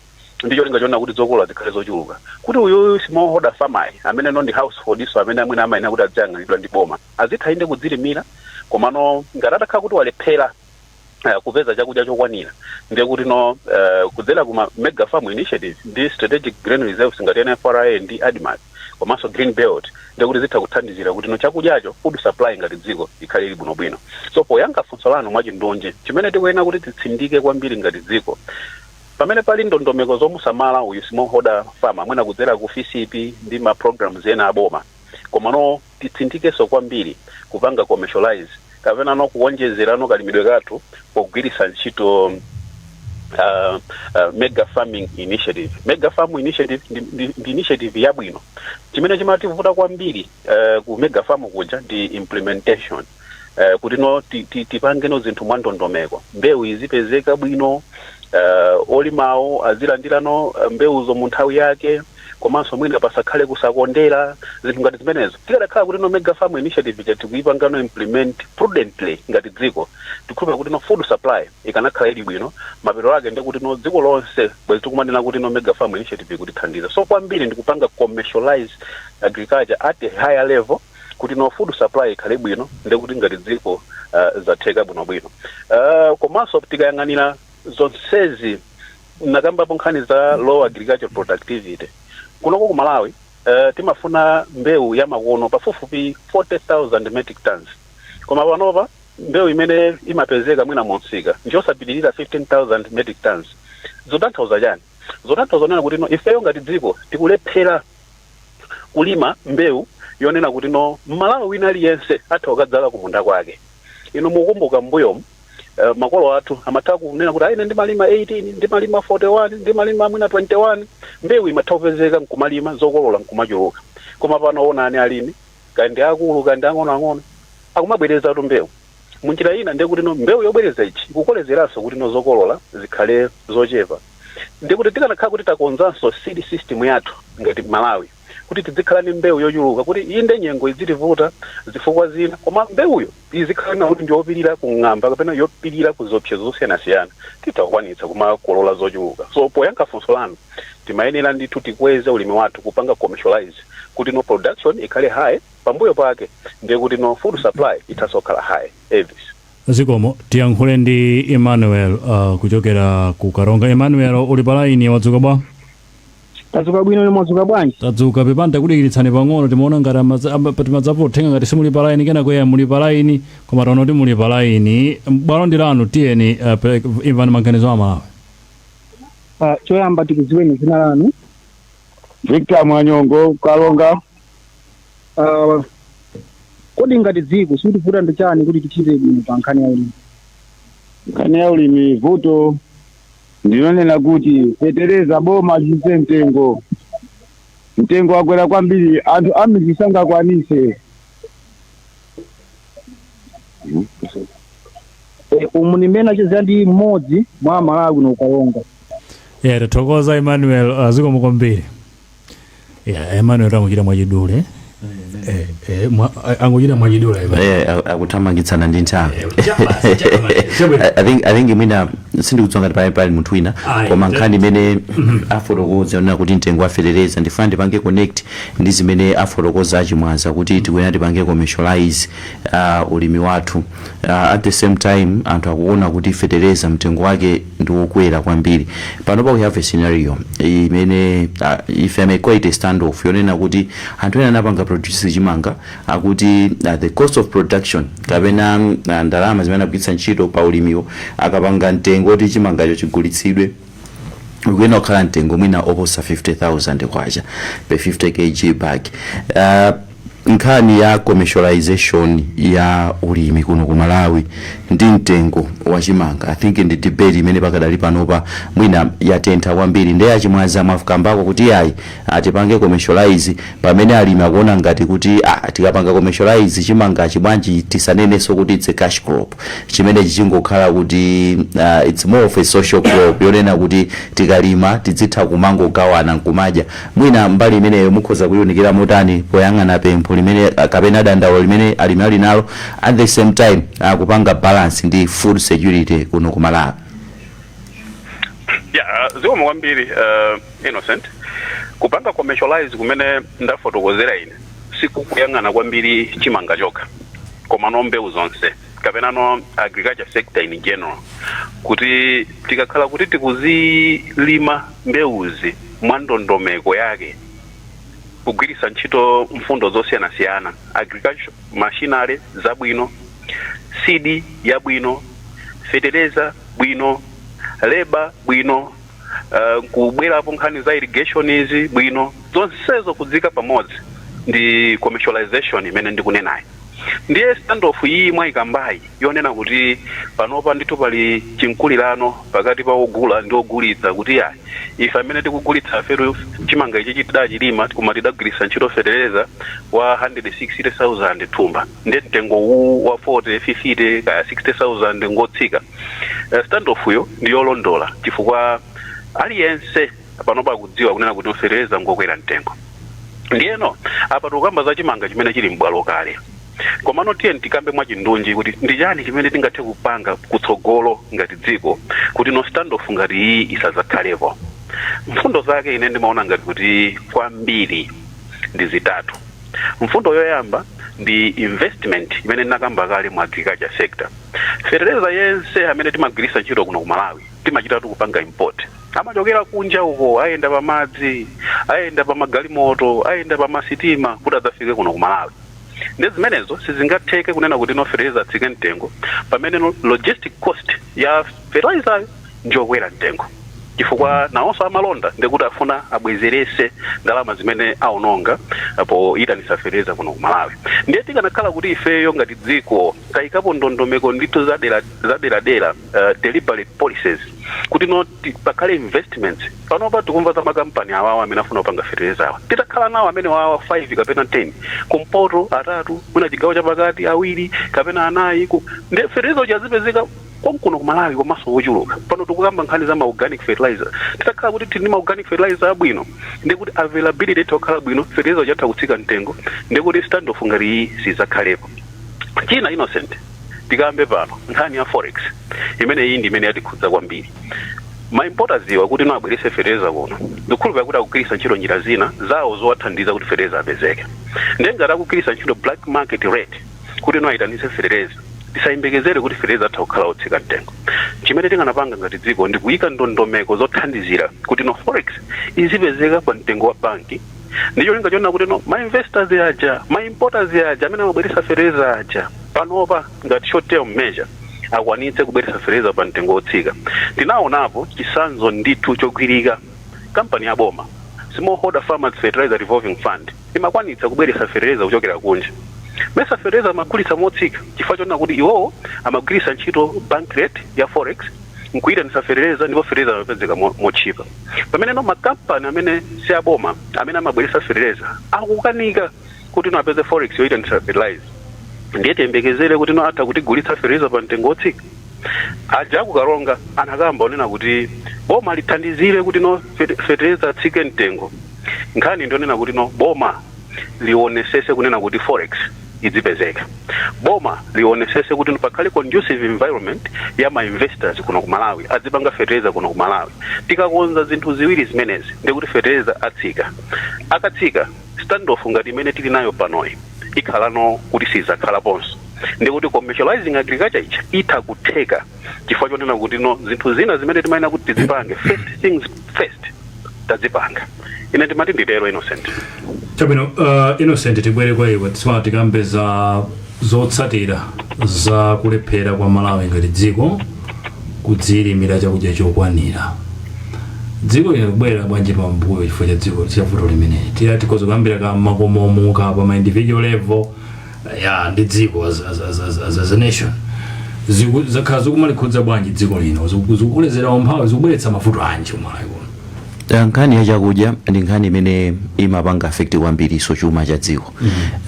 ndi cholinga chonena kuti zokolola zikhale zochuluka kuti uyuyu smallholder farmer amene no ndi householdnso amene mwina amayenera kuti aziyang'anidwa ndi boma azitha inde kudzilimira komano ngati atakhala kuti walephera uh, kupeza chakudya chokwanira ndiye kuti no uh, kudzera kuma mega farm initiative ndi strategic grain reserves ngati nfra ndi admarc komanso green belt ndiye kuti zitha kuthandizira kuti no chakudyacho food supply ngati dziko ikhale ili bwinobwino so poyankha funso lanu mwachindunji chimene tikuyenera kuti titsindike kwambiri ngati dziko pamene pali ndondomeko zomusamala uyu smallholder farmer mwina kudzera ku fisp ndi ma programs ena aboma komano titsindikenso kwambiri kupanga commercialize kapenano kuwonjezerano kalimidwe kathu pogwiritsa ntchito uh, uh, mega farming initiative mega farm initiative ndi, ndi, ndi initiative yabwino chimene chimativuta kwambiri uh, ku mega farm kuja ndi implementation uh, kuti no ti- ti- tipange no zinthu mwa ndondomeko mbewu izipezeka bwino uh, olimawo azilandira no uh, mbewuzo mu nthawi yake komanso mwina pasakhale kusakondera zinthu ngati zimenezo tikadakhala kuti no mega farm initiative ija tikuipanga no implement prudently ngati dziko ndikhulupirira kuti no food supply ikanakhala ili bwino mapeto ake ndi kuti no dziko lonse bwezi tikumanena kuti no mega farm initiative ikutithandiza so kwambiri ndikupanga commercialize agriculture at a higher level kuti no food supply ikhale bwino ndekuti ngati dziko uh, zatheka bwinobwino uh, komanso tikayang'anira zonsezi nakambapo nkhani za low agricultural productivity kunoko ku malawi uh, timafuna mbewu ya makono pafupifupi 40000 metric tons koma panopa mbewu imene imapezeka mwina mumsika ndiyosapitirira 15000 metric tons zotanthauza chani zotanthauza nena kuti no ifeyo ngati dziko tikulephera kulima mbewu yonena kuti no mmalawi wina aliyense atha kukadzala kumunda kwake inu mukumbuka mbuyomu uh, makolo athu amatha kunena kuti ah ine ndimalima 18 ndimalima 41 ndimalima mwina 21 mbewu imatha kupezeka nkumalima zokolola nkumachuluka koma pano onani alimi kaya ndi akulu kaya ndi ang'onoang'ono akumabwerezatu mbewu munjira ina ndiye kuti no mbewu yobwereza ichi ikukolezeranso kuti no zokolola zikhale zochepa ndiye kuti tikanakhala kuti takonzanso seed system yathu ngati Malawi kuti tidzikhala ndi mbewu yochuluka kuti inde nyengo idzitivuta zifukwa zina koma mbewuyo izikhala yonena kuti ndiyopirira ku ng'amba kapena yopirira ku ziopsezo zosiyanasiyana titha kukwanitsa kumakolola zochuluka so poyankha funso lanu timayenera ndithu tikweze ulimi wathu kupanga commercialize kuti no production ikhale high pambuyo pake ndiye kuti no food supply ithanso kukhala high Elvis Zikomo. Tiyankhule ndi Emmanuel uh, kuchokera ku Karonga. Emmanuel uli pa line mwadzuka bwa? tadzuka bwino inu mwadzuka bwanji Tadzuka pepani takudikiritsani pang'ono timaona ngati amaza- ama- pa- timadzapo uthenga ngati simuli pa line kenako ya muli pa line koma taona kuti muli pa line. Bwalo ndi lanu tiyeni uh, pe- imvani maganizo a Malawi. Ah, choyamba tikudziweni dzina lanu Victor Mwanyongo Karonga uh, kodi ngati dziko chikutivuta ndi chani kuti tichite bwino pa nkhani ya ulimi nkhani ya ulimi vuto ndinonena kuti fetereza boma litsitse mtengo mtengo wakwera kwambiri anthu akumudzi sangakwanise Eh, umu ni mmene tachezera ndi mmodzi mwa amalawi kuno ku Karonga yeah tathokoza emmanuel uh, zikomo kwambiri Yeah, Emmanuel angochita mwachidule. Eh, eh, mwa- a- angochita mwachidule. Ivan. Eh, a- akuthamangitsana ndi nthawi Chabasi, chabasi, chabasi. I- I think- I think mwina sindikudziwa ngati pali pali munthu wina Ayi, koma nde- nkhani imene afotokoza yonena kuti mtengo wa fetereza ndifuna ndipange connect ndi zimene afotokoza a Chimwaza kuti tikuyenera tipange commercialize uh, ulimi wathu uh, at the same time anthu akuona kuti fetereza mtengo wake ndi wokwera kwambiri panopa we have a scenario imene uh, if i may call it a standoff yonena kuti anthu ena anapanga produce chimanga akuti uh, the cost of production kapena uh, ndalama zimene anagwiritsa ntchito pa ulimiwo akapanga mtengo kuti chimangacho chigulitsidwe ukuyenera kukhala mtengo mwina oposa 50000 kwacha per 50 kg bag uh, Nkhani ya commercialisation ya ulimi kuno ku Malawi ndi mtengo wa chimanga I think ndi debate imene pakadali panopa mwina yatentha kwambiri nde a Chimwaza mwakambako kuti ayi tipange commercialise pamene alimi akuona ngati kuti ah tikapanga commercialise chimangachi bwanji tisanenenso kuti it's a cash crop chimenechi chingokhala kuti uh, it's more of a social crop yonena kuti tikalima tidzitha kumangogawana nkumadya Mwina mbali imeneyo mukhoza kuiunikira motani poyang'ana pempho limene kapena dandaulo limene alimi ali nalo at the same time kupanga balance ndi food security kuno ku Malawi? Yeah, uh, zikomo kwambiri uh, Innocent. Kupanga commercialize kumene ndafotokozera ine sikukuyang'ana kwambiri chimanga chokha koma no mbewu zonse. kapenano agriculture sector in general kuti tikakhala kuti tikuzilima mbewuzi mwa ndondomeko yake kugwiritsa ntchito mfundo zosiyanasiyana agriculture machinery zabwino seed yabwino fetereza bwino leba bwino uh, kubwerapo nkhani za irrigation izi bwino zonsezo kudzika pamodzi ndi commercialization imene ndikunenayi ndiye standoff iyi mwayikambayi yonena kuti panopa ndithu pali chimkulirano pakati pa ogula ndi ogulitsa kuti yayi ife amene tikugulitsafetu chimanga ichi chitidachilima koma tidagwiritsa ntchito fetereza wa 160,000 thumba ndiye mtengo uwu wa 40 50 kaya 60,000 ngotsika Eh, standoff yo ndi yolondola chifukwa aliyense panopa akudziwa kunena kuti fetereza ngokwera mtengo ndiyeno apa tikukamba za chimanga chimene chili m'bwalo kale komano tiye tikambe mwachindunji kuti ndi chani chimene tingathe kupanga kutsogolo ngati dziko kuti no standoff ngati iyi isadzakhalepo mfundo zake ine ndimaona ngati kuti kwambiri ndi zitatu mfundo yoyamba ndi investment imene ndinakamba kale mu agriculture sector Fetereza yense amene timagwiritsa ntchito kuno ku Malawi timachitatu kupanga import. Amachokera kunja uko, ayenda pa madzi, ayenda pa magalimoto, ayenda pa masitima kuti adzafike kuno ku Malawi. Ndi zimenezo sizingatheke kunena kuti no fetereza atsike mtengo pamene logistic cost ya fertilizer yo njokwera mtengo chifukwa nawonso amalonda ndekuti afuna abwezerese ndalama zimene aononga poyitanitsa fetereza kuno ku malawi ndiye tikanakhala kuti ifeyo ngati dziko tayikapo ndondomeko ndithu zadera- zaderadera uh, deliberate policies kuti no ti- pakhale investments panopa tikumva za makampani awawa amene afuna kupanga fetereza awa titakhala nawo amenewawa 5 kapena 10 kumpoto atatu mwina chigawo chapakati awiri kapena anayi ku- ndiye fetereza uja azipezeka konkuno ku malawi komanso wochuluka pano tikukamba nkhani za maorganic fertilizer titakhala kuti tili ndi maorganic fertilizer abwino ndi kuti availability itha kukhala bwino fertilizer uja atha kutsika mtengo ndi kuti standoff ngati iyi sidzakhalepo china innocent tikambe pano nkhani ya forex imene iyi ndi imene yatikhudza kwambiri ma importers wa kuti no abwerese fertilizer kuno ndikhulupirira kuti akugwiritsa ntchito njira zina zawo zowathandiza kuti fertilizer apezeke ndiye ngati akugwiritsa ntchito black market rate kuti no ayitanise fetereza tisayembekezere kuti fetereza atha kukhala otsika mtengo chimene tinganapanga ngati dziko ndi kuyika ndondomeko zothandizira kuti no forex izipezeka pa mtengo wa banki ndi cholinga chonena kuti no ma investors aja ma importers aja amene amabweresa fetereza aja panopa ngati short term measure akwanitse kubweresa fetereza pa mtengo wotsika tinaonapo chisanzo ndithu chogwirika kampani ya boma smallholder farmers fertilizer revolving fund imakwanitsa kubweretsa fetereza kuchokera kunja. Mesa fetereza amagulitsa motsika chifukwa chonena kuti iwowo amagwiritsa ntchito bank rate ya forex nkuyitanitsa fetereza ndipo fetereza amapezeka motchipa. Pameneno makampani amene si aboma amene amabweretsa fetereza akukanika kutino apeze forex yoyitanitsa fetereza. Ndiye tiyembekezere kutino atha kutigulitsa fetereza pa mtengo wotsika? Aja aku Karonga anakamba kunena kuti boma lithandizire kuti no fete- fetereza atsike mtengo. Nkhani ndionena kuti no boma lionetsetse kunena kuti forex idzipezeka. Boma lionetsetse kuti pakhale conducive environment ya ma investors kuno ku Malawi adzipanga fetereza kuno ku Malawi. Tikakonza zinthu ziwiri zimenezi ndikuti fetereza atsika. Akatsika Standoff ngati imene tili nayo panoyi ikhalano kuti sidzakhalaponso, ndi kuti commercialising agriculture ija itha kutheka chifukwa chonena kutino zinthu zina zimene timayenera kuti tidzipange, first things first, tadzipanga. Ine ndimati nditero, Innocent. Chabwino, uh, Innocent tibwere kwa iwe tsopano tikambe za Zotsatira za kulephera kwa Malawi ngati dziko kudziilimira chakudya chokwanira. Dziko lino likubwerera bwanji pambuyo chifukwa cha dziko cha vuto limeneli? Tiyeni tikhoza kuyambira kumakomoku pa ma individual level ya ndi dziko as, as, as, as, as, as a nation Ziku- zakhala zikumalikhudza bwanji dziko lino Ziku- zikukulezera umphawi zikubweretsa mavuto anji ku Malawi kuno Eh, nkhani ya chakudya ndi nkhani imene imapanga affect kwambirinso chuma cha dziko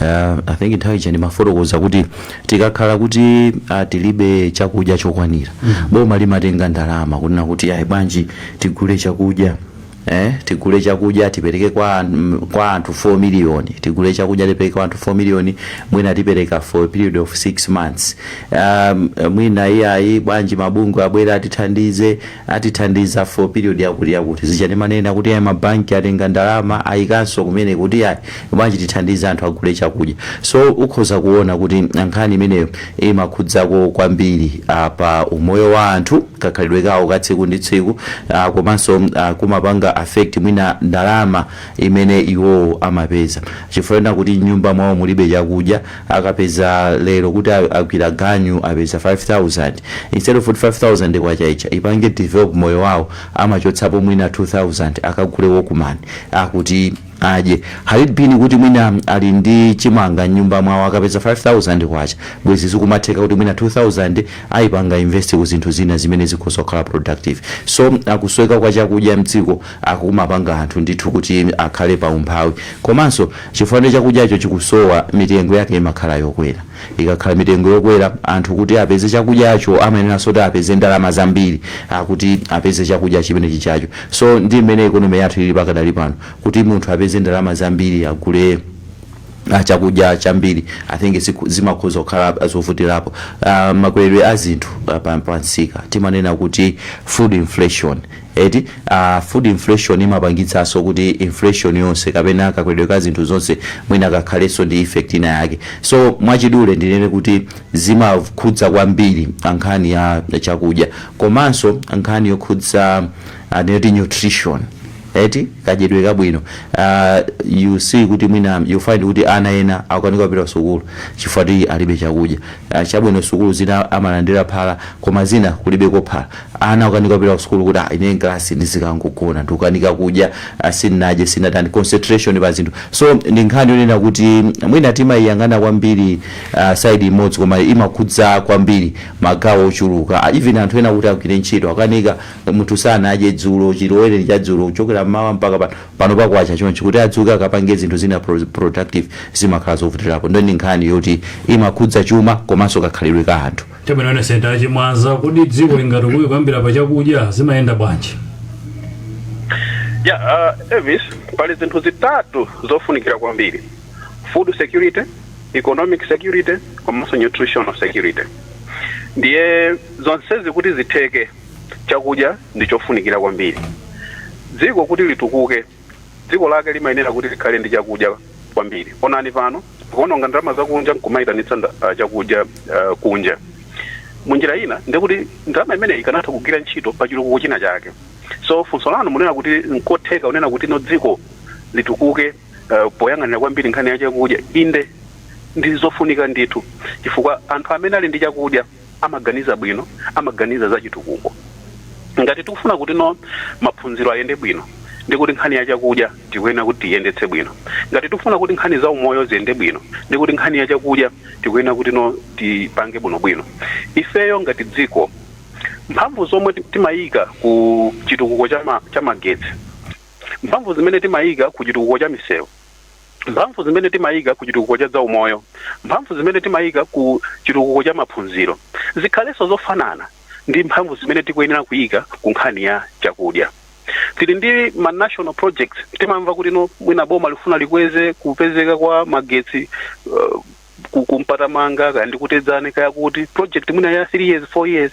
Eh, i think nthawi ija ndimafotokoza kuti tikakhala kuti ah, tilibe chakudya chokwanira boma limatenga ndalama kunena kuti ayi bwanji tigule chakudya Eh, tigule chakudya tipereke kwa, an- mm, kwa anthu 4 miliyoni tigule chakudya tipereke kwa anthu 4 miliyoni mwina tipereka for a period of 6 months um, mwina iyayi bwanji mabungwe abwera atithandize atithandiza for period yakuti yakuti. Zija ndimanena kuti ai ma bank atenga ndalama ayikanso kumene kuti ai bwanji tithandize anthu agule chakudya. So ukhoza kuona kuti nkhani imeneyo imakhudzako kwambiri ah, pa umoyo wa anthu, kakhalidwe kawo ka tsiku ndi tsiku ah, komanso ah, kumapanga affect mwina ndalama imene iwowo amapeza. Chifukwa chonena kuti m'nyumba mwawo mulibe chakudya akapeza lero kuti agwira ganyu apeza 5000 instead of kuti 5000 kwacha ija ipange develop moyo wawo amachotsapo mwina 2000 akagule wokuman kuti adye had it been kuti mwina ali ndi chimanga mnyumba mwawo akapeza 5000 kwacha bwezi zikumatheka kuti mwina 2000 ayipanga invest ku zinthu zina zimene zikhoza kukhala productive so kusowekera kwa chakudya mdziko kumapanga anthu ndithu kuti akhale pa umphawi komanso Chifukwa ndiye chakudyacho chikusowa, mitengo yake imakhala yokwera. Ikakhala mitengo yokwera, anthu kuti apeze chakudyacho amayeneranso kuti apeze ndalama zambiri kuti apeze chakudya chimene chijacho. So ndi mmene economy yathu ilili pakadali pano, kuti munthu apeze ndalama zambiri agule chakudya chambiri, I think zimakhoza kukhala zovutirapo. Makweredwe a zinthu pa msika, timanena kuti food inflation. Eti aah food inflation imapangitsaso kuti inflation yonse kapena kakweredwe ka zinthu zonse mwina kakhaleso ndi effect ina yake so mwachidule ndinene kuti zimakhudza kwambiri pa nkhani ya chakudya komanso nkhani yokhudza ah, ndinoti nutrition eti kadyedwe kabwino uh, you see kuti mwina you find kuti ana ena akukanika kupita ku sukulu chifukwa ti alibe chakudya uh, chabwino sukulu zina amalandira phala koma zina kulibeko phala Ana akukanika kupita ku sukulu kuti ine mkalasi ndizikangogona, ndikukanika kudya, sindinadye, sindinatani, concentration pa zinthu. So ndi nkhani yonena kuti mwina timaiyang'ana kwambiri side imodzi koma imakhudza kwambiri magawo ochuluka. Even anthu ena kuti agwire ntchito akukanika, munthu sanadye dzulo, chilowere cha dzulo kuchokera mmawa mpaka pano, panopa kwacha chonchi, kuti adzuke akapange zinthu zina productive zimakhala zovutirapo. Nde ndi nkhani yoti imakhudza chuma komanso kakhalidwe ka anthu. Chabwino Innocent a Chimwaza kuti dziko lingatukuke kuyambira pa chakudya zimayenda bwanji ya uh, Elvis pali zinthu zitatu zofunikira kwambiri food security economic security komanso nutritional security ndiye zonsezi kuti zitheke chakudya ndi chofunikira kwambiri dziko kuti litukuke Dziko lake limayenera kuti likhale ndi chakudya kwambiri. Onani pano, kuononga ndalama zakunja nkumayitanitsa nda- ah, chakudya ah, kunja. Munjira ina ndikuti ndalama imeneyi ikanatha kugwira ntchito pa chitukuko china chake. So funso lanu munena kuti nkotheka unena kuti no dziko litukuke ah, poyang'anira kwambiri nkhani ya chakudya. Inde ndi zofunika ndithu chifukwa anthu amene ali ndi chakudya amaganiza bwino, amaganiza za chitukuko. Ngati tikufuna kuti no maphunziro ayende bwino ndi kuti nkhani ya chakudya tikuyenera kuti tiyendetse bwino. Ngati tikufuna kuti nkhani za umoyo ziyende bwino ndi kuti nkhani ya chakudya tikuyenera kuti no tipange bwinobwino. Ifeyo ngati dziko mphamvu zomwe ti- timayika ku chitukuko cha ma- cha magetsi mphamvu zimene timayika ku chitukuko cha misewu mphamvu zimene timayika ku chitukuko cha zaumoyo, mphamvu zimene timayika ku chitukuko cha maphunziro zikhalenso zofanana ndi mphamvu zimene tikuyenera kuyika ku nkhani ya chakudya. Tili ndi ma national projects, timamva kuti no mwina boma likufuna likweze kupezeka kwa magetsi uh, ku- ku Mpatamanga kaya ndi ku Tedzani kaya kuti project mwina ya 3 years 4 years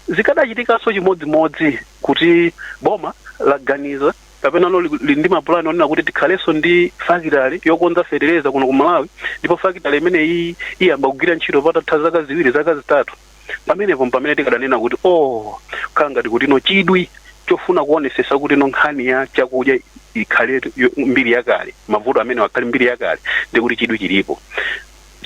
zikadachitikanso chimodzimodzi kuti boma laganiza kapenano lili ndi mapulani onena kuti tikhalenso ndi fakitale yokonza fetereza kuno ku malawi ndipo fakitale imeneyi iyamba kugwira ntchito patatha zaka ziwiri zaka zitatu pamenepo mpamene tikadanena kuti oh khala ngati kuti no chidwi chofuna kuonesesa kuti no nkhani ya chakudya ikhale yo- mbiri yakale mavuto amenewa akhale mbiri yakale ndi kuti chidwi chilipo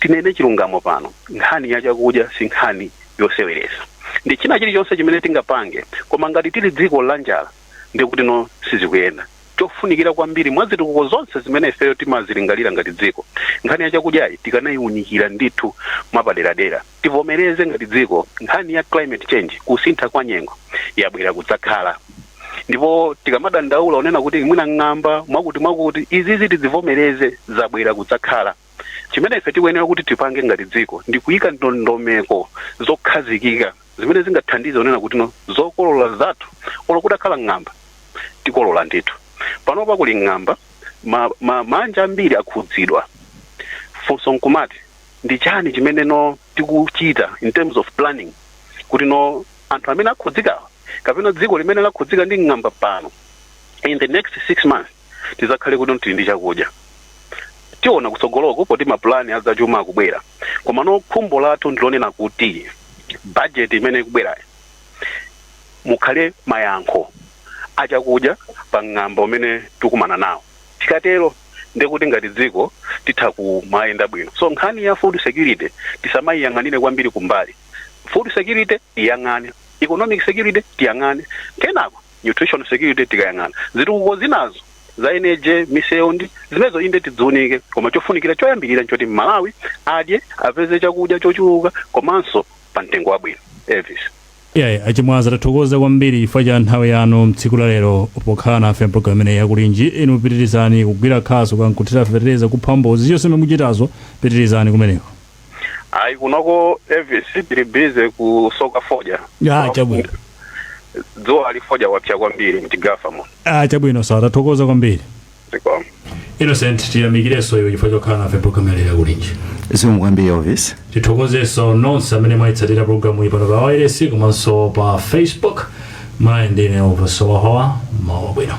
tinene chilungamo pano nkhani ya chakudya si nkhani yoseweresa ndi china chilichonse chimene tingapange koma ngati tili dziko la njala ndi kuti no sizikuyenda chofunikira kwambiri mwa zitukuko zonse zimene ifeyo timazilingalira ngati dziko nkhani ya chakudyayi tikanayiunikira ndithu mwapaderadera tivomereze ngati dziko nkhani ya climate change kusintha kwa nyengo yabwera kudzakhala ndipo tikamadandaula onena kuti mwina ng'amba mwakuti mwakuti izizi tizivomereze zabwera kudzakhala chimene ife tikuyenera kuti tipange ngati dziko ndi kuyika ndondomeko zokhazikika zimene zingathandize kunena kuti no zokolola zathu olo kutakhala ng'amba tikolola ndithu panopa kuli ng'amba ma, ma, maanja ambiri akhudzidwa funso nkumati ndi chani chimene no tikuchita in terms of planning kuti no anthu amene akhudzikawa kapena dziko limene lakhudzika ndi ng'amba pano in the next six months tizakhale kuti tili ndi chakudya tiona kutsogoloko poti mapulani azachuma akubwera komano khumbo lathu ndilonena kuti bajeti imene ikubwerayo mukhale mayankho achakudya pa ng'amba umene tikumana nawo tikatero ndekuti ngati dziko titha kumayenda bwino so nkhani ya food security tisamayiyang'anire kwambiri kumbali food security tiyang'ane economic security tiyang'ane kenako nutritional security tikayang'ana zitukuko zinazo za eneje misewu ndi zimezo inde tidziunike koma chofunikira choyambirira nchoti mmalawi adye apeze chakudya chochuluka komanso pa mtengo wabwino elvis iyayi achimwaza tathokoza kwambiri chifukwa cha nthawi yanu mtsiku la lero pokhala nafe mpulogalamu imeneyi yakulinji inu pitirizani kugwira khasu kaya nkuthira fetereza kupha mbozi zonse mukuchitazo pitirizani kumeneko Ayi kunoko Elvis tili busy kusoka fodya. Ya, chabwino. Dzuwali fodya wapsa kwambiri mzigafamu. Ah, chabwino sawa tathokoza kwambiri. Zikomo. innocent tiyamikirenso iwe chifukwa chokhala nafe programu imeneyi ya kulinji zikomo kwambiri elvis tithokozenso nonse amene mwayitsatira programu iyi pano pa wailesi komanso pa facebook ine ndine elvis howahowa mawa abwino